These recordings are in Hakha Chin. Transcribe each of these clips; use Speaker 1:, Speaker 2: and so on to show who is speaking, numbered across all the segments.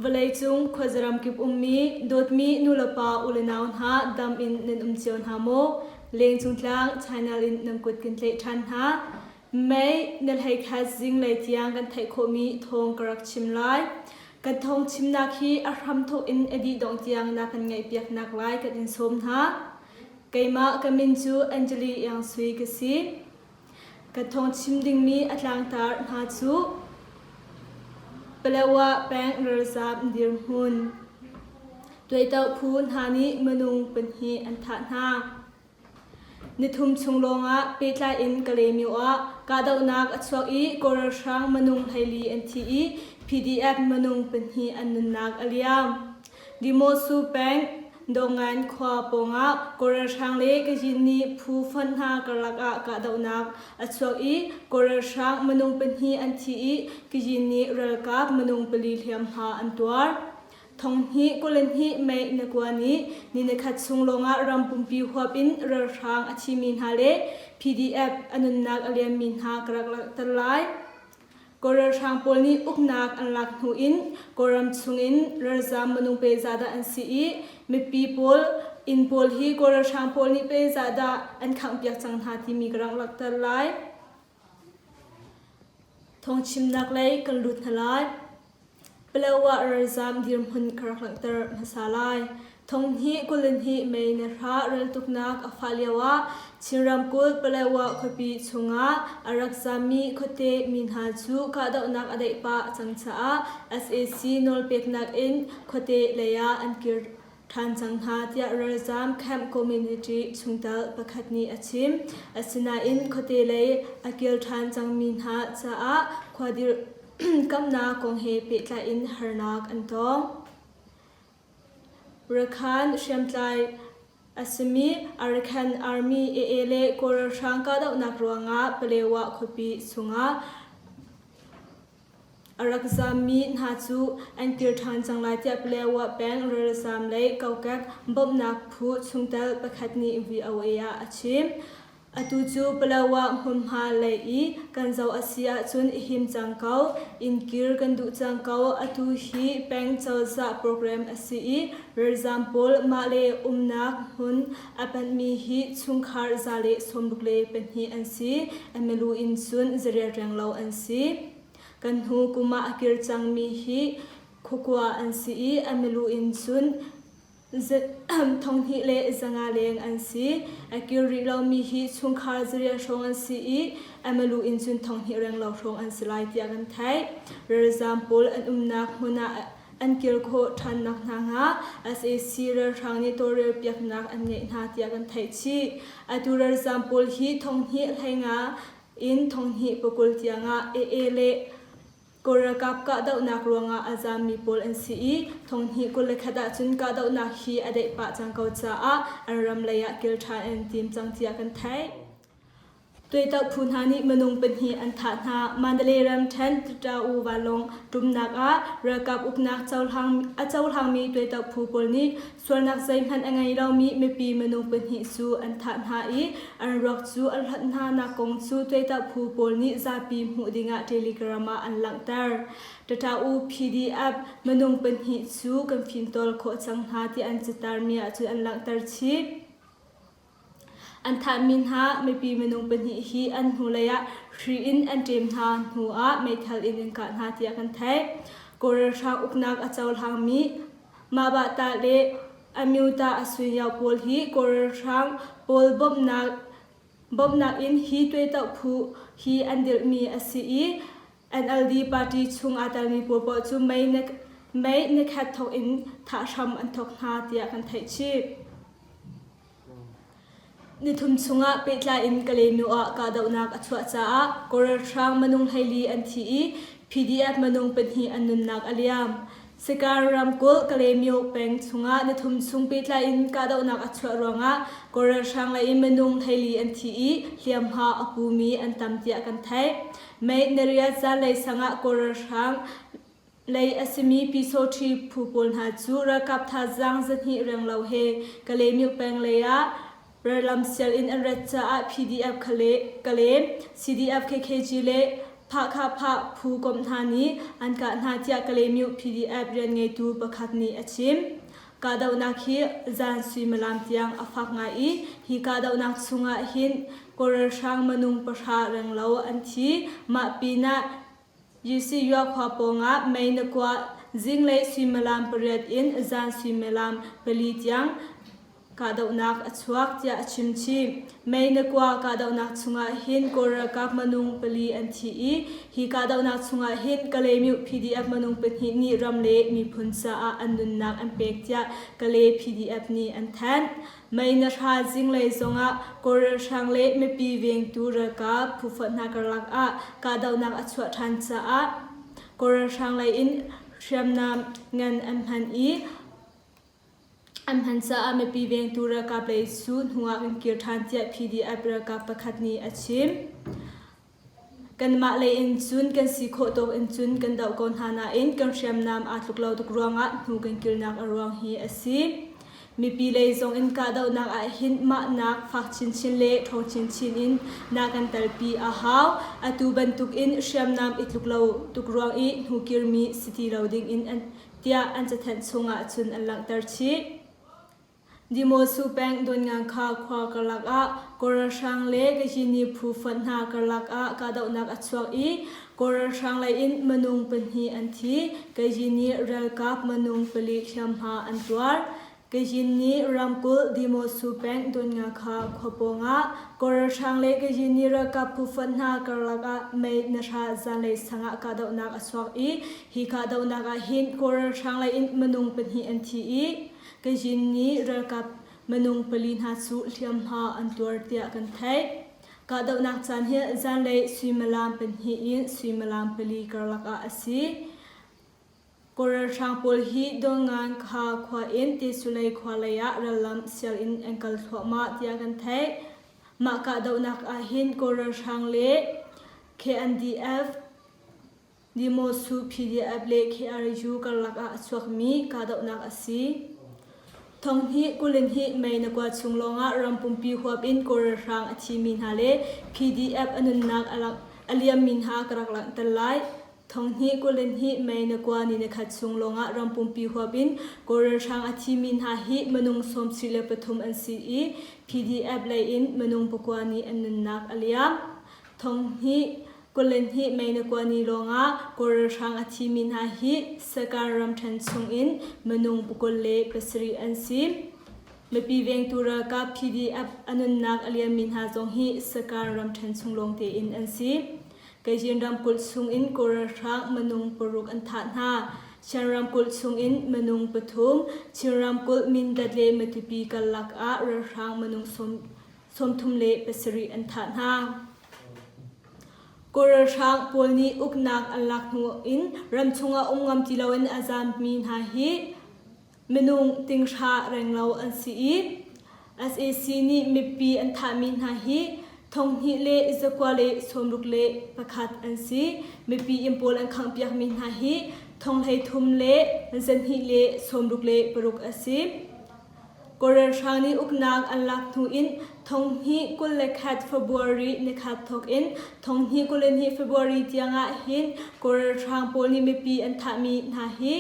Speaker 1: Vawleicung khuazaram kip ummi dawtmi nulepa ule nau hna dam in nan um cio hna maw? Leng cung tlang China in nan kut kan tlaih ṭhan hna. Mei na hleikhat zinglei tiang kan theih khawhmi thawng ka rak chim lai. Kan thawng chimnak hi a hramthawk in a dih dongh tiang na kan ngaihpiaknak lai kan in sawm hna. Keimah ka min cu Angeli Iang Sui ka si. Ka thawng chim dingmi a tlangtar hna cu Palewa peng ralzaam dirhmun, Tuaito phu hna nih minung pahnih an thah hna. Nithum chung lawngah pehtlai in Kalaymyo ah kahdohnak a chuak i kawl ralhrang minung hleili an thi i PDF minung pahnih an nunnak a liam. Limosu peng Dawngain khua pawngah kawl ralhrang le Kazin nih phu fund hna karlak ah kahdohnak a chuak i kawl ralhrang minung pahnih an thi i Kazin nih ralkap minung pali hliamhma an tuar. Thong hnih kul in hnih mei na kuan i ni nikhat chung lawngah ram pumpi huap in ralhrang a thimi hna le PDF a nunnak a liammi hna ka rak langhter lai. Kawl ralhrang pawl nih uknak an lak hnu in Kawlram chungin ralzam minung pe zahdah an si i mipi pawl inn pawl hi Kawl ralhrang pawl nih pe zahdah an khangh piak cang hna timi ka rak langhter lai. Thawngchimnak lei kan lut hna lai. Palawa ralzaam dirhmun ka rak langhter hmasa lai. Thong hnih kul in hnih mei na hra reltuknak a fah lio ah Chin ramkulh Palawa khuapi chungah a rak zaammi khuate mi hna cu kahdohnak a deih pah cang caah SAC nawlpeknak in khuate lei ah an kir ṭhan cang hna tiah ralzaam camp community chungtel pakhat nih a chim. Asinain khuate lei a kil ṭhan cangmi hna caah khuadir kamnak kong he pehtlai in harnak an tong. Rakhine hriamtlai a simi Arakan Army AA le Kawl ralhrang kahdohnak ruangah Palewa khuapi chungah A rak zammi hna cu an kir ṭhan cang lai tiah lioah peng ralzaam le kokek bawmhnak phu chungtel pakhat nih VOA ah a chim. Atu cu Palawa hmunhma lei i kan zoh a si ahcun i him cang ko. Inn kir kan duh cang ko. Atu hi peng cozah program a si i ralzaam pawl mahle umnak hmun A panhmi hi chungkhar zale sawmruk le pahnih an si. A milu in cun za rial reng lo an si. Kan hnu kum ah a kir cangmi hi khukua an si i a milu in cun thonghnih le zanga leng an si. A kir rih lomi hi chungkhar zarial hrawng an si i a malu in cun thonghnih reng lo hrawng an si lai tiah kan theih. Ralzaam pawl an umnak hmun ah an kir khawh ṭhannak hna hnga sac ralhrang nih tawlrel piaknak an ngeih hna tiah kan theih chih. Atu ralzaam pawl hi thonghnih hleinga in thonghnih pakul tiangah AA le Kawl ralkap kahdohnak ruangah a zaammi pawl an si i thonghnih kul le khat ahcun kahdohnak hi a deih pah cang ko caah an ram leiah kil ṭhan an tim cang tiah kan theih. Tuahtoh phu hna nih minung pahnih an thah hna. Mandalay ram ṭhen Tatawu vanlawng ṭumnak ah ralkap uknak a cohlangmi tuahtoh phu pawl nih sualnak zeihmanh a ngei lomi mipi minung pahnih cu an thah hna i an ruak cu a hlonh hnanak kong cu tuahtoh phu pawl nih zapi hmuh dingah Telegram ah an langhter. Tatawu PDF minung pahnih cu kan fimtawl khawh cang hna ti an catarmi ahcun an langhter chih. An thahmi hna mipi minung pahnih hi an hnulei ah hri in an ṭem hna hnu ah meithal in an kah hna tiah kan theih. Kawl ralhrang uknak a cohlangmi Mah-Bah-Tah le Amyuta Asunyo pawl hi Kawl ralhrang pawl bawmhnak in hi tuehtauh phu hi an dirhmi a si i NLD party chung aa telmi pawl paoh cu mei nekhet thawk in thah hram an thawk hna tiah kan theih chih. Nithum chungah pehtlai in Kalenu ah kahdohnak a chuah caah Koral Hrang minung hleili an thi i PDF minung pahnih an nunnak a liam. Sikar ramkulh Kalemyo peng chungah nithum chung pehtlai in kahdohnak a chuah ruangah Kawl ralhrang lei in minung theili an thi i hliamhma a pumi an tam tiah kan theih. May nariat zanlei sang ah Kawl ralhrang lei a simi Pyesawṭhi phu pawl hna cu ralkap thazaang zahnih renglo he Kalemyo peng lei ah Rallam sialinn an rat caah PDF kha le ka lem, CDF KKG le Phahkha Phah phu komh hna nih an kah hna tiah Kalaymyo PDF rianngeitu pakhat nih a chim. Kahdohnak hi zan suimilam tiang a fak ngai i hi kahdohnak chungah hin kawlralhrang minung pahra renglo an thi, mah pinah Yisiyah khua pawngah mei na kuah, zinglei suimilam pariat in zan suimilam pali tiang kahdohnak a chuak tiah a chimchim. Mei na kuah kahdohnak chungah hin Kawl ralkap minung pali an thi i hi kahdohnak chungah hin Kalaymyo PDF minung pahnih nih ram le miphun caah an nunnak an pek tiah Kale PDF nih an thanh. Mei na hra zinglei zongah kawlralhrang le mipi vengtu ralkap phufoh hna karlak ah kahdohnak a chuah ṭhan caah kawlralhrang lei in hriamnam ngan an hman i an hman caah mipi vengtu ralkap lei cu hnuah kan kir ṭhan tiah PDF ralkap pakhat nih a chim. Kanmah lei in cun kan si khawh tawk in cun kan doh ko hna nain kan hriamnam aa tluk lo tuk ruangah hnu kan kilnak a ruang hi a si. Mipi lei zong in kahdohnak ah hin mahnak fak chinchin le ṭhawng chinchin in na kan talpi a hau. Atu bantuk in hriamnam i tluk lo tuk ruang i hnu kirmi si ti lo ding in tiah an cathanh chung ah cun an langhter chih. Dimawsu peng Dawnngang kha khua karlak ah Kaw ralhrang le Kazhini phu fonh hna karlak ah kahdohnak a chuak i Kaw ralhrang leiin minung pahnih an thi, Kazhini ralkap minung pali hriamhma an tuar. Kazhini ramkulh Dimawsu peng Dawnngang kha khua pawngah Kaw ralhrang le Kazhini ralkap phu fonh hna karlak ah mei nahra zanlei sangah kahdohnak a chuak i hi kahdohnak ah hin Kaw ralhrang leiin minung pahnih an thi i Kanzhin nih ralkap minung pali hna cu hliamhma an tuar tiah kan theih. Kahdohnak caan hi zanlei suimilam pahnih in suimilam pali karlak ah a si. Kawlralhrang pawl hi Dawngan Kha khua in Tesulei khua lei ah rallam sianginn an kal thluahmah tiah kan theih. Mah kahdohnak ahhin Kawlralhrang le KNDF Dimawsu PDF le KRU karlak ah a chuakmi kahdohnak a si. Thong hi kulin hi Mei na kua chung lawngah ram pumpi huap in kawlrel hrang a thimi hna le PDF a nunnak a liammi hna ka rak langhter lai. Thong hi kulin hi Mei na kua ni na khat chung lawngah ram pumpi huap in kawlrel hrang a thimi hna hi minung sawmsih le pathum an si i PDF lei in minung pakua nih an nunnak a liam. Thong hi Kul le hnih Meinakuani lawngah Kawl ralhrang a thimi hna hi Sakar ramṭhen chungin minung pakul le pasarih an si. Mipi vengtu ralkap PDF a nunnak a liammi hna zong hi Sakar ramṭhen chung lawng tein an si. Kajin ramkulh chungin Kawl ralhrang minung paruk an thah hna. Shan ramkulh chungin minung pathum, Chin ramkulh Mindat le Matupi karlak ah ralhrang minung sawmthum le pasarih an thah hna. Kawlralhrang pawl nih uknak an lak hnu in ramchung ah um ngam ti loin a zaammi hna hi minung tinghra renglo an si i sac nih mipi an thahmi hna hi thonghnih le zakua le sawmruk le pakhat an si. Mipi inn pawl an khanghpiakmi hna hi thong hleithum le zanhnih le sawmruk le paruk a si. Kawlrel hrang nih uknak an lak hnu in Thonghnih kul le khat February nikhat thawk in Thonghnih kul le hnih February tiang ah hin Kawlrel hrang pawl nih mipi an thahmi hna hi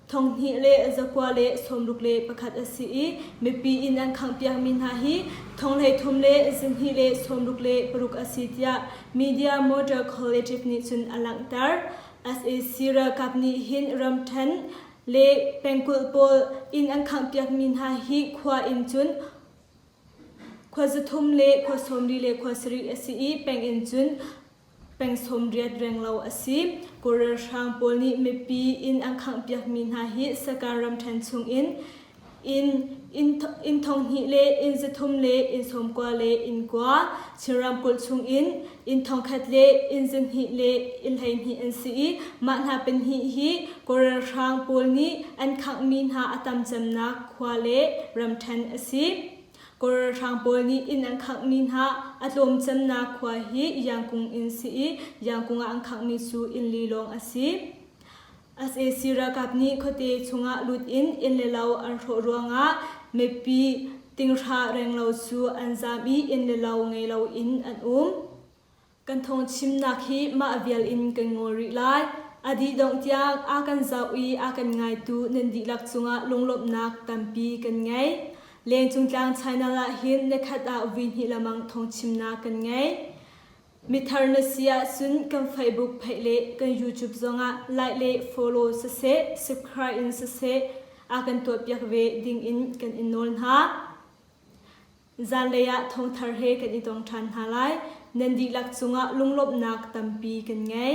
Speaker 1: Thonghnih le zakua le sawmruk le pakhat a si i mipi inn an khanghpiakmi hna hi thonghleithum le zinhnih le sawmruk le paruk a si tiah media motor collative nih cun a langhter. SAC ralkap nih hin ramṭhen le pengkulh pawl inn an khanghpiakmi hna hi khua in cun khua za thum le khua sawmri le khua sarih a si i peng in cun peng sawm riat reng lo a si. Kawl ralhrang pawl nih mipi inn an khanghpiakmi hna hi sakar ram ṭhen chung in Inn thonghnih le inn zathum le inn sawmkua le inn kua Chin ramkulh chungin inn thongkhat le inn zahnih le inn hleihnih an si i mah hna pahnih hi Kawl ralhrang pawl nih an khanghmi hna a tam cemnak khua le ram ṭhen a si. Kawl ralhrang pawl nih inn an khanghmi hna a tlawm cemnak khua hi Yangkung inn si i Yangkung ah an khanghmi cu inn li lawng a si. Sac ralkap nih khuate chungah lut in inn le lo an hrawh ruangah mipi tinghra renglo cu an zaam i inn le lo ngei loin an um. Kan thawngchimnak hi mah vial in kan ngawl rih lai. A dih dongh tiang a kan zoh i a kan ngaitu nan dihlak cungah lunglawmhnak tampi kan ngei. Lengcung tlang China lah hin nikhat ah vui hnih lamang thawngchimnak kan ngei. Mithar na si ahcun kan Facebook pheih le kan YouTube zongah like le follow siseh, subscribe in siseh a kan tuahpiak ve ding in kan in nawl hna. Zanlei ah thongthar he kan i tong ṭhan hna lai. Nan dihlak cungah lunglawmhnak tampi kan ngei.